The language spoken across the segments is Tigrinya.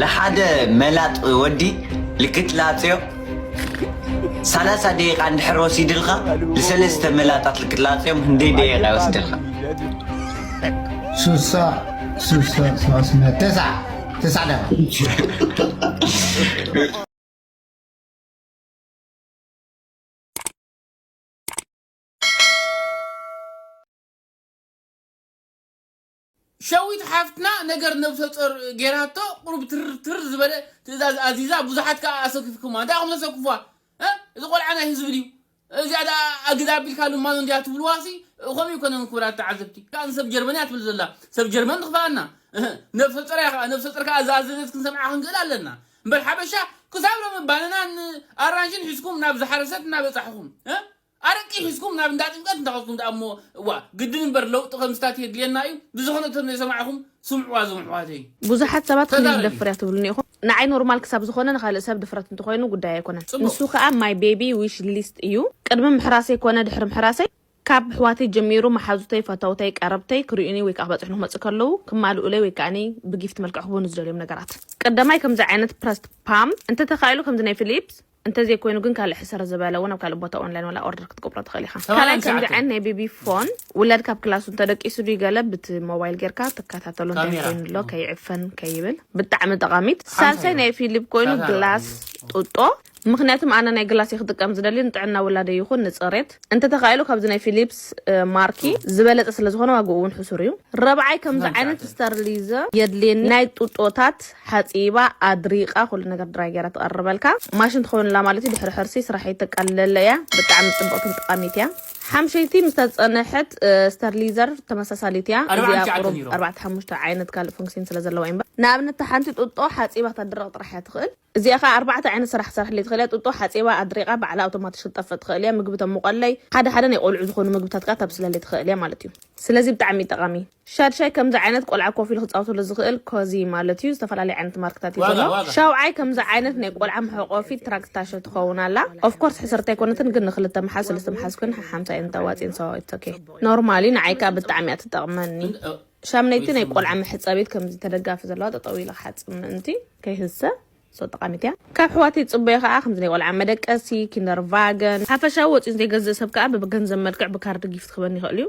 ለሓደ መላጥ ወዲ ልክትላጽዮ ሰላሳ ደቂቃ እንድሕር ወሲድልካ ንሰለስተ መላጣት ልክትላጽዮም ህንደይ ደቂቃ ይወስድልካ ሱሳ ሱሳ ሰዋስነ ተስዓ ተስዓ ደቂቃ ሸዊት ሓፍትና ነገር ነብሰጾር ጌራቶ ቁሩብ ትር ትር ዝበለ ትእዛዝ ኣዚዛ ብዙሓት ከኣ ኣሰኪፍኩማ እንታይ ኢኹም ተሰክፍዋ እ? እዚ ቆልዓ ናይ ህዝቢ ድዩ እዚኣ ደኣ ኣግዳ ኣቢልካ ልማኖ እንድያ ትብልዋሲ ከምኡ ይኮነን ክብራት ተዓዘብቲ ከኣ ንሰብ ጀርመን እያ ትብል ዘላ ሰብ ጀርመን ትኽፍኣና እህ፣ ነብሰጾር እያ ከኣ ነብሰጾር ከኣ ዝኣዘዘት ክንሰምዓ ክንክእል ኣለና እምበር ሓበሻ ክሳብ ሎሚ ባነናን ኣራንሽን ሒዝኩም ናብ ዝሓረሰት እናበጻሕኹም እ? ኣረቂ ሒዝኩም ናብ እንዳ ጥምቀት እንተ ከድኩም ደኣ እሞ እዋ ግድን እምበር ለውጢ ከምዝታት የድልየና እዩ ብዝኮነ እቶም ዘይሰማዕኩም ስምዕዋ እዞም ኣሕዋተይ ብዙሓት ሰባት ክንዲ ተዛረቢ ዝደፍር እያ ትብሉኒ ኢኹም ንዓይ ኖርማል ክሳብ ዝኾነ ንኻልእ ሰብ ድፍረት እንተኾይኑ ጉዳይ ኣይኮነን ንሱ ጽቡቅ ከኣ ማይ ቤቢ ዊሽ ሊስት እዩ ቅድሚ ምሕራሰይ ኮነ ድሕሪ ምሕራሰይ ካብ ኣሕዋተይ ጀሚሩ መሓዙተይ ፈተውተይ ቀረብተይ ክሪኡኒ ወይ ከኣ ክበጽሑኒ ክመጽኡ ከለዉ ክማልኡለይ ወይ ከኣ ብጊፍት መልክዕ ክህቡኒ ዝደልዮም ነገራት ቀዳማይ ከምዚ ዓይነት ፕረስት ፓም እንተተኻኢሉ ከምዚ ናይ ፊሊፕስ እንተዘይኮይኑ ግን ካልእ ሕስር ዝበለ እውን ኣብ ካልእ ቦታ ኦንላይን ዋላ ኦርደር ክትገብሮ ትኽእል ኢኻ። ካልኣይ ከምዚ ዓይነት ናይ ቤቢ ፎን ውላድ ካብ ክላሱ እንተደቂሱ ድዩ ገለ ብቲ ሞባይል ጌርካ ትከታተሎ እንታይ ኮይኑ ኣሎ ከይዕፈን ከይብል ብጣዕሚ ጠቓሚት። ሳልሳይ ናይ ፊሊፕ ኮይኑ ግላስ ጡጦ ምክንያቱም ኣነ ናይ ግላስ እየ ክጥቀም ዝደሊ ንጥዕና ውላደ ይኹን ንፅሬት እንተተኻኢሉ ካብዚ ናይ ፊሊፕስ ማርኪ ዝበለፀ ስለዝኾነ ዋግኡ እውን ሕሱር እዩ ረብዓይ ከምዚ ዓይነት ስተርሊዘ የድልየኒ ናይ ጡጦታት ሓጺባ ኣድሪቃ ኩሉ ነገር ድራይ ጌራ ትቀርበልካ ማሽን ትከውንላ ማለት እዩ ድሕሪ ሕርሲ ስራሒት ተቃልለለ እያ ብጣዕሚ ጽብቅትን ጠቃሚት እያ ሓምሸይቲ ምስ ተጸነሐት ስተርሊዘር ተመሳሳሊት እያ እዚኣ ቁሩብ ኣርባዕተ ሓሙሽተ ዓይነት ካልእ ፎንክሲን ስለ ዘለዋ እምበር ንኣብነት እታ ሓንቲ ጡጦ ሓጺባ ተድርቅ ጥራሕ እያ ትክእል እዚኣ ከኣ ኣርባዕተ ዓይነት ስራሕ ክትሰርሐለይ ትክእል እያ ጡጦ ሓጺባ ኣድሪቃ ባዕላ ኣውቶማትሽ ክትጠፍእ ትክእል እያ ምግቢ ተሙቀለይ ሓደ ሓደ ናይ ቆልዑ ዝኮኑ ምግብታት ከኣ ተብስለለይ ትክእል እያ ማለት እዩ ስለዚ ብጣዕሚ ጠቃሚ ሻድሻይ ከምዚ ዓይነት ቆልዓ ኮፍ ኢሉ ክጻወተሉ ዝኽእል ኮዚ ማለት እዩ ዝተፈላለዩ ዓይነት ማርክታት እዩ ዘሎ ሻውዓይ ከምዚ ዓይነት ናይ ቆልዓ መሕቆፊት ትራክት ታሸ ትኸውን ኣላ ኦፍ ኮርስ ሕስርት ኣይኮነትን ግን ንክልተ መሓዝ ሰለስተ መሓዝ ኮይን ሓሓምሳ እየን ተዋጽየን ሶ ኢትስ ኦኬ ኖርማል እዩ ንዓይ ከኣ ብጣዕሚ እያ ትጠቕመኒ ሻምነይቲ ናይ ቆልዓ መሕጸቢት ከምዚ ተደጋፊ ዘለዋ ጠጠው ኢለ ክሓጽብ ምእንቲ ከይህሰ ሶ ጠቓሚት እያ ካብ ሕዋተይ ዝጽበዮ ከኣ ከምዚ ናይ ቆልዓ መደቀሲ ኪንደር ቫገን ሓፈሻዊ ወጺኡ ዘይገዝእ ሰብ ከኣ ብገንዘብ መልክዕ ብካርድ ጊፍት ክህበኒ ይኽእል እዩ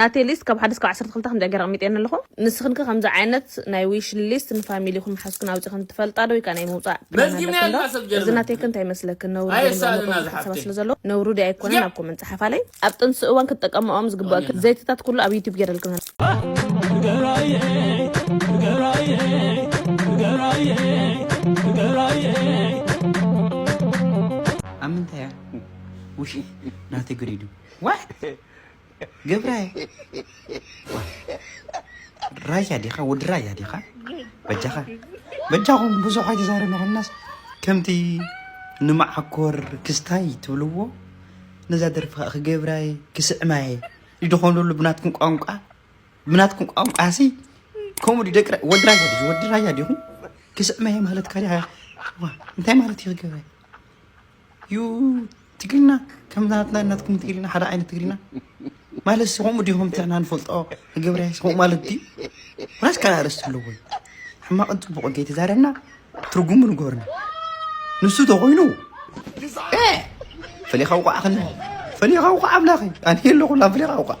ናተይ ሊስት ካብ ሓደ እስካብ ዓሰርተ ክልተ ከምዚኣ ገረ ኣቅሚጠየን ኣለኩ ንስክን ከ ከምዚ ዓይነት ናይ ዊሽ ሊስት ንፋሚሊኩን ምሓዝኩን ኣውጺክን ትፈልጣ ዶ ወይ ከኣ ናይ ምውጻእ ፕላን ኣለክን ዶ እዚ ናተይ ከ እንታይ ይመስለክን ነውሪ ጌረን ዘቅምጠኦ ብዙሕ ሓሳባት ስለ ዘለዉ ነውሪ ድዩ ኣይኮነን ኣብ ኮመንት ጸሓፋለይ ኣብ ጥንሲ እዋን ክትጠቀመኦም ዝግበኣክን ዘይትታት ኩሉ ኣብ ዩቱብ ጌረልክን ኣብ ምንታይ እያ ውሽይ ናተይ ግሪዱ ዋይ ግብረ ዋይ ራያ ዲኻ ወዲ ራያ ዲኻ በጃኻ በጃኹም ብዙሕ ኣይተዛረብናስ ከምቲ ንመዓኮር ክስታይ ትብልዎ ነዛ ደርፊ ከዓ ክገብራየ ክስዕማየ ይድኾን ሉ ብናትኩም ቋንቋ ብናትኩም ቋንቋ ሲ ከምኡ ደቂ ወዲ ራያ ዲ ወዲ ራያ ዲኹም ክስዕማየ ማለት ካሊኣ እንታይ ማለት እዩ ክገብራየ ዩ ትግርና ከም ናትና ናትኩም ትግርና ሓደ ዓይነት ትግርና ማለት ሲ ከምኡ ድኹም ትዕና ንፈልጦ ንገብርያስ ከምኡ ማለት ድዩ ዋላስ ካልእ ኣርእስቲ ኣለዎ ሕማቕን ፅቡቕ ገይ ተዛረብና ትርጉሙ ንገርና ንሱ ተኮይኑ ፈሊኻ ውቃዕ ከለ ፈሊኻ ውቃዕ ኣምላኸይ ኣነ ኣለኹላ ፈሊኻ ውቃዕ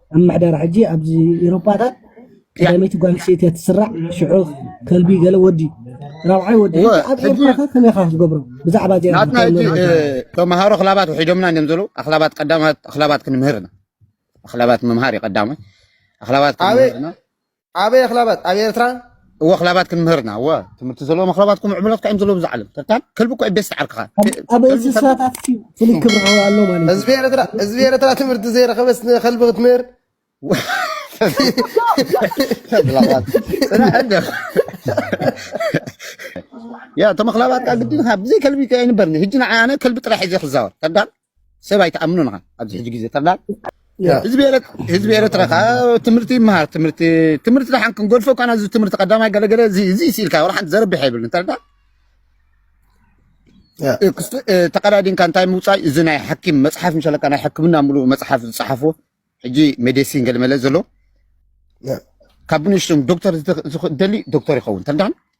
ኣብ ምሕደራ ሕጂ ኣብዚ ኤሮፓታት ቀዳመይቲ ጓል ኣንስተይቲ እያ ትስራዕ ሽዑ ከልቢ ገለ ወዲ ራብዓይ ወዲ እወ፣ ኣብ ሕጂ ኤርትራ ከ ከመይ ኢኻ ክትገብሮ ብዛዕባ እዚኣ ናትና እንታይ ሕጂ መርመራ እ፣ ኣለካ ተምሃሮ ኣኽላባት ውሒዶምና እዮም ዘለዉ ኣኽላባት ቀዳማት ኣኽላባት ክንምህር ኢና ኣኽላባት ምምሃር እዩ ቀዳማይ ኣኽላባት ኣበይ ክንምህር ኢና ኣበይ ኣኽላባት ኣብ ኤርትራ እወ ክላባት ክንምህር ኢና እወ ትምህርቲ ዘለዎ መክላባት ኮም ዕምሎትካ እዮም ዘለዎ ብዛዕለም ተርካን ከልቢ እኮ ቤት ዓርክኻ ኣብ እንስሳታት ፍሉይ ክብሪ ኣሎ ማለት ህዝቢ ኤርትራ ህዝቢ ኤርትራ ትምህርቲ ዘይረኸበስ ንከልቢ ክትምህር ያ ተመክላባት ካ ግድን ብዘይ ከልቢ ኣይንበርኒ ህጂ ንዓይ ኣነ ከልቢ ጥራሕ እዩ ዘይክዛወር ተዳል ሰብ ኣይትኣምኑን ኢኻ ኣብዚ ሕጂ ግዜ ጠቅላል ህዝቢ ህዝቢ ኤርትራ ከዓ ትምህርቲ ይመሃር ትምህርቲ ትምህርቲ ደሓን ክንገድፎ እኳ እዚ ትምህርቲ ቀዳማይ ገለገለ እዚ እዚ ስኢልካ ወላ ሓንቲ ዘረብሕ የብልን ተረዳ ተቀዳዲንካ እንታይ ምውፃእ እዚ ናይ ሓኪም መፅሓፍ ምሸለካ ናይ ሕክምና ሙሉእ መፅሓፍ ዝፀሓፎ ሕጂ ሜዲሲን ገለመለ ዘሎ ካብ ንእሽቶም ዶክተር ዝደሊ ዶክተር ይኸውን ተረዳን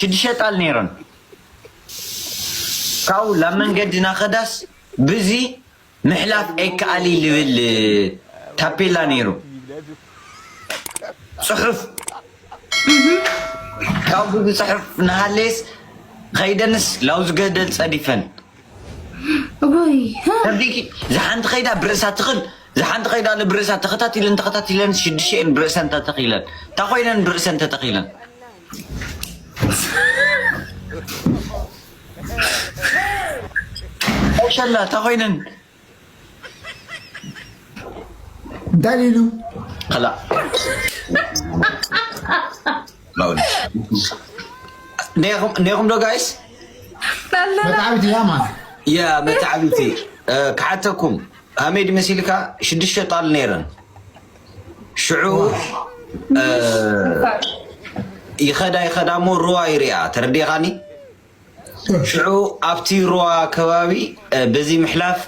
ሽዱሸተ ጣል ነይረን ካብኡ ላብ መንገዲ ናኸዳስ ብዚ ምሕላፍ ኣይከኣሊ ልብል ታፔላ ነይሩ ፅሑፍ ካብ ብዚ ፅሑፍ ናሃለየስ ኸይደንስ ላውዚ ገደል ፀዲፈን ዝሓንቲ ከይዳ ብርእሳ ትኽል ዝሓንቲ ከይዳ ብርእሳ ተኸታቲለን ተኸታቲለን ሽዱሽተ እየን ብርእሰን ተተኺለን እንታይ ኮይነን ብርእሰን ተተኺለን ሸላ ተኮይነን ዳሊሉ ላ ኔኹም ዶ ጋይስ መታዓቢቲ እያ ማ ያ መታዓቢቲ ክሓተኩም ሃሜድ መሲልካ ሽዱሽተ ጣል ነይረን ሽዑ ይኸዳ ይኸዳ እሞ ሩዋ ይርኣ ተረዲኻኒ። ሽዑ ኣብቲ ሩዋ ከባቢ በዚ ምሕላፍ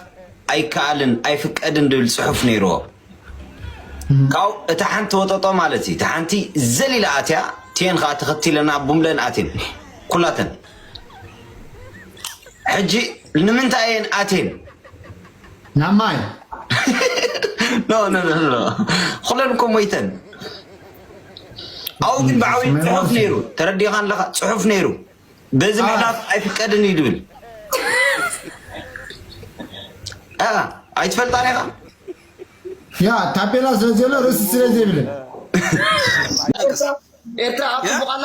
ኣይከኣልን ኣይፍቀድን ድብል ፅሑፍ ነይርዎ። ካብኡ እታ ሓንቲ ወጠጦ ማለት እዩ። እታ ሓንቲ ዘሊላ ኣትያ ቴን ከዓ ተኸቲለና ቡምለን ኣቴን ኩላተን ሕጂ ንምንታይ እየን ኣቴን ናብ ማይ ኩለን እኮ ሞይተን ኣብኡ ግን ብዓብዩ ፅሑፍ ነይሩ ተረዲኻ ኣለካ ፅሑፍ ነይሩ በዚ ምሕላፍ ኣይፍቀድን እዩ ድብል ኣይትፈልጣን ኢኻ ያ ታፔላ ስለዘሎ ርእሲ ስለዘይብልን ኤርትራ ኣብፅቡቃላ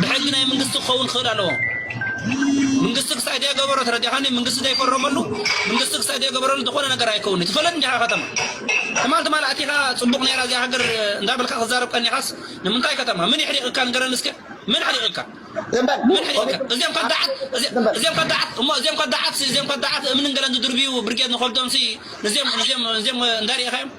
ብሕጊ ናይ ምንግስቲ ክኸውን ክኽእል ኣለዎ። ምንግስቲ ክሳዕ ደይገበሮ ተረዲእኻኒ? ምንግስቲ ደይፈረመሉ፣ ምንግስቲ ክሳዕ ደይገበረሉ ዝኾነ ነገር ኣይከውን እዩ። ትፈልጥ እንዲኻ ከተማ ትማል ትማል ኣቲኻ ጽቡቕ ነይራ እዚኣ ሃገር እንዳበልካ ክዛረብ ቀኒኻስ ንምንታይ ከተማ ምን ይሕሪቕካ ንገረኒ እስከ ምን ሕሪቕካ ምን ሕሪቕካ እዚኦም ከዳዓት እዚኦም ከዳዓት እሞ እዚኦም ከዳዓት እዚኦም ከዳዓት እምንን ገለን ዝድርብዩ ብርጌድ ንኸብዶም ሲ ንዚኦም ንዚኦም ንዚኦም እንዳሪእኻዮም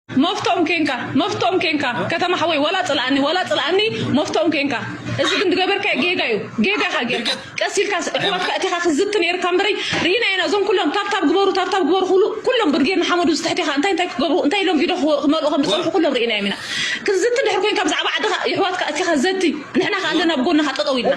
መፍቶም ኴንካ መፍቶም ኴንካ ከተማ ሓወይ ወላ ጽልኣኒ ወላ ጽልኣኒ መፍቶም ኴንካ እዚ ግን ዝገበርካዮ ጌጋ እዩ ጌጋ ኢኻ ጌርካ ቀስ ኢልካ ኣሕዋትካ እቲኻ ክትዝቲ ነይርካ እምበረይ ርኢና ኢና እዞም ኩሎም ታብታብ ግበሩ ታብታብ ግበሩ ክብሉ ኩሎም ብርጌድ ንሓመዱ ዝትሕቲኻ እንታይ እንታይ ክገብሩ እንታይ ኢሎም ቪድዮ ክመልኡ ከም ዝጸንሑ ኩሎም ርኢናዮም ኢና ክትዝቲ ድሕር ኮይንካ ብዛዕባ ዓድኻ የሕዋትካ እቲኻ ዘቲ ንሕና ከ ኣለና ብጎንኻ ጠጠው ኢልና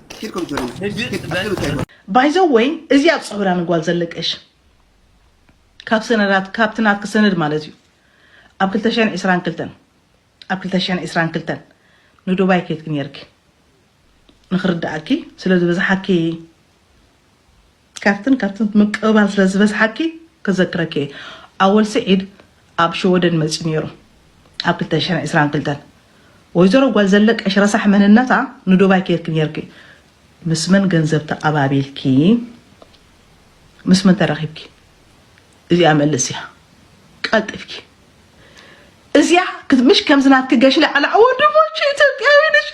ባይዘወይ እዚኣ ትፅውራ ንጓል ዘለቀሽ ካብ ሰነዳት ካብቲ ናትኪ ሰነድ ማለት እዩ ኣብ 222 ኣብ 222 ንዱባይ ከይትኪ ነርኪ ንክርድኣኪ ስለዝበዝሓኪ ካብትን ካብትን ምቅብባል ስለ ዝበዝሓኪ ክዘክረኪ እየ ኣወል ስዒድ ኣብ ሸወደን መጽዩ ኔሩ ኣብ ክልተ ሽሕን ዕስራን ክልተን ወይዘሮ ጓል ዘለቀሽ ረሳሕ መንነታ ንዱባይ ኬድኪ ኔርኪ ምስ መን ገንዘብ ተቀባቢልኪ ምስ መን ተራኺብኪ እዚኣ መልስ እያ ቀልጢፍኪ እዚኣ ምሽ ከምዚ ናትኪ ገሽለ ዓላዕ ወንድሞች ኢትዮጵያዊ ነሽ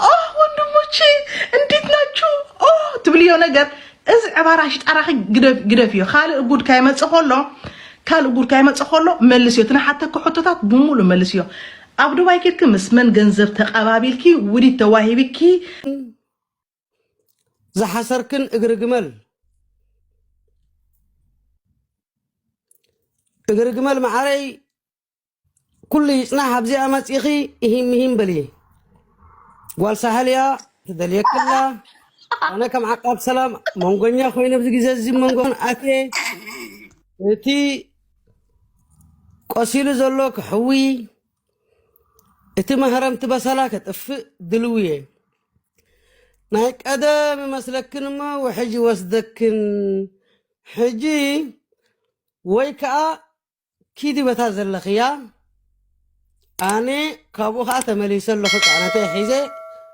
ኦ ወንድሞች እንዴት ናችሁ ኦ ትብልዮ ነገር እዚ ዕባራ ሽጣራኺ ግደፍዮ ካልእ ጉድ ካይመፅ ከሎ ካልእ ጉድ ካይመፅ ከሎ መልስዮ ትናሓተኪ ሕቶታት ብሙሉ መልስዮ ኣብ ዱባይ ኬድኪ ምስ መን ገንዘብ ተቐባቢልኪ ውዲት ተዋሂብኪ ዝሓሰርክን እግሪ ግመል እግሪ ግመል መዓረይ ኩሉ ይፅናሕ ኣብዚኣ መፂኺ እሂም ምሂም በሊ ጓል ሳሕል እያ ትደልየክላ ኣነ ከም ዓቃብ ሰላም መንጎኛ ኮይነ ኣብዚ ግዜ እዚ መንጎን ኣቴ እቲ ቆሲሉ ዘሎ ክሕዊ እቲ መህረምቲ በሰላ ከጥፍእ ድልው እየ ናይ ቀደም ይመስለክን እሞ ውሕጅ ይወስደክን ሕጂ ወይ ከዓ ኪዲ በታ ዘለኽያ ኣነ ካብኡ ከዓ ተመሊሰ ኣለኹ ፃዕነተይ ሒዘ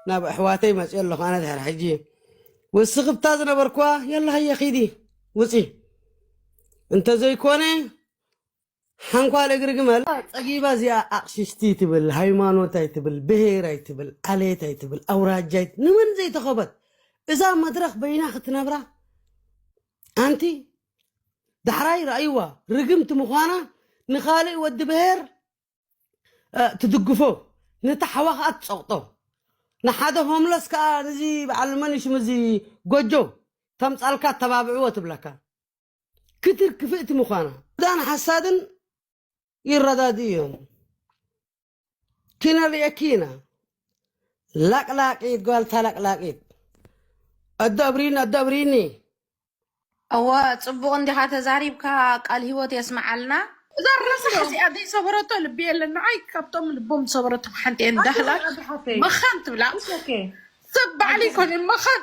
ናብ ኣሕዋተይ መፅኦ ኣለኹ ኣነ ድሕር ሕጂ ውስኺ ብታ ዝነበርኩዋ የላ ሃየ ኪዲ ውፂ እንተዘይኮነ ሓንኳል እግሪ ግመል ጸጊባ እዚኣ ኣቕሽሽቲ ትብል ሃይማኖት ኣይትብል ብሄር ኣይትብል ዓሌት ኣይትብል ኣውራጃ ኣይት ንመን ዘይተኸበት እዛ መድረኽ በይና ክትነብራ ኣንቲ ዳሕራይ ራእይዋ ርግምቲ ምዃና ንኻልእ ወዲ ብሄር ትድግፎ ነቲ ሓዋ ከዓ ትፀቕጦ ንሓደ ሆምለስ ከዓ እዚ በዓል መን እዩ ሽሙ እዚ ጎጆ ተምፃልካ ተባብዕዎ ትብለካ ክትር ክፍእቲ ምዃና ዳን ሓሳድን ይረዳድኡ እዮም ኪነርእየኪ ኢና ላቅላቂት ጓልታ ላቅላቂት ኣዶ ኣብሪኒ ኣዶ ኣብሪኒ እወ ጽቡቕ እንዲኻ ተዛሪብካ ቃል ህይወት የስምዓልና እዛ ረሳሕ እዚኣ ዘይሰበረቶ ልቢ የለን ንዓይ ካብቶም ልቦም ዝሰበረቶም ሓንቲ እየ እንዳህላክ መኻን ትብላ ሰብ ባዕሉ ይኮነ መኻን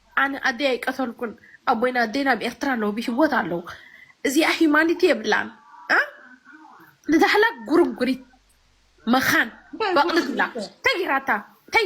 ኣነ ኣደይ ኣይቀተልኩን ኣቦይን ኣደይን ኣብ ኤርትራ ኣለዉ ብሂወት ኣለዉ እዚኣ ሂማኒቲ የብላን እ ንዛሕላ ጉርንጉሪት መኻን ባይ በቕሊ ጉርንጉሪት ዝብላ እያ። እንታይ ጌራታ እንታይ